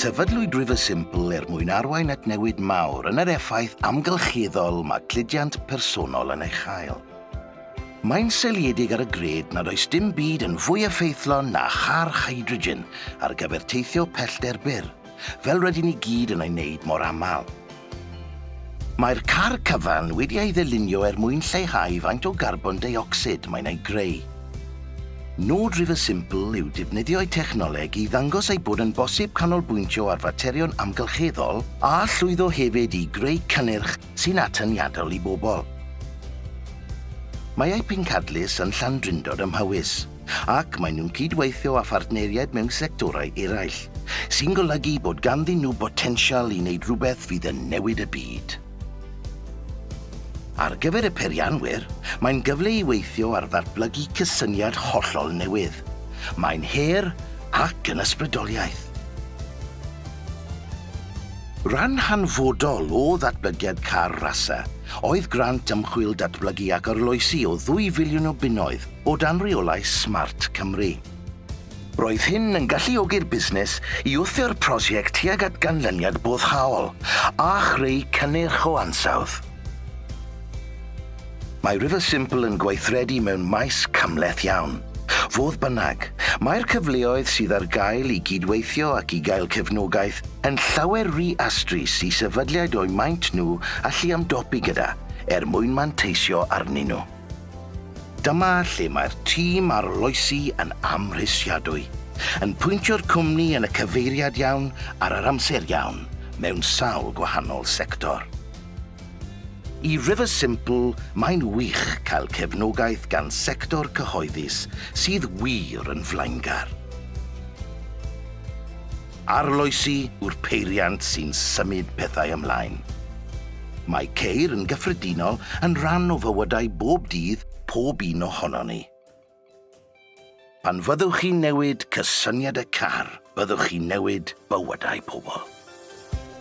Sefydlwyd River Simple er mwyn arwain at newid mawr yn yr effaith amgylcheddol mae cludiant personol yn ei chael. Mae'n seiliedig ar y gred nad oes dim byd yn fwy effeithlon na charch hydrogen ar gyfer teithio pellter byr, fel rydyn ni gyd yn ei wneud mor aml. Mae'r car cyfan wedi ei ddylunio er mwyn lleihau faint o garbon deuocsid mae'n ei greu. Nod River Simple yw defnyddio'u technoleg i ddangos ei bod yn bosib canolbwyntio ar faterion amgylcheddol a llwyddo hefyd i greu cynnyrch sy'n atyniadol i bobl. Mae eu pencadlys yn Llandrindod ym Mhowys. ac maen nhw'n cydweithio â phartneriaid mewn sectorau eraill, sy'n golygu bod ganddyn nhw botensial i wneud rhywbeth fydd yn newid y byd. Ar gyfer y peirianwyr, mae'n gyfle i weithio ar ddatblygu cysyniad hollol newydd. Mae'n her ac yn ysbrydoliaeth. Rhan hanfodol o ddatblygiad Car Rasa oedd grant ymchwil datblygu ac arloesi o ddwy filiwn o bunnoedd o dan reolau Smart Cymru. Roedd hyn yn galluogi'r busnes i wthio'r prosiect tuag at ganlyniad boddhaol a chreu cynnyrch o ansawdd. Mae River Simple yn gweithredu mewn maes cymhleth iawn. Fodd bynnag, mae'r cyfleoedd sydd ar gael i gydweithio ac i gael cefnogaeth yn llawer ry astrus i sefydliad o'u maint nhw allu ymdopi gyda, er mwyn manteisio arnyn nhw. Dyma lle mae'r tîm arloesi yn amhrisiadwy, yn pwyntio'r cwmni yn y cyfeiriad iawn ar yr amser iawn mewn sawl gwahanol sector. I River Simple mae'n wych cael cefnogaeth gan sector cyhoeddus sydd wir yn flaengar. Arloesi yw'r peiriant sy'n symud pethau ymlaen. Mae ceir yn gyffredinol yn rhan o fywydau bob dydd pob un ohonon ni. Pan fyddwch chi'n newid cysyniad y car, byddwch chi'n newid bywydau pobl.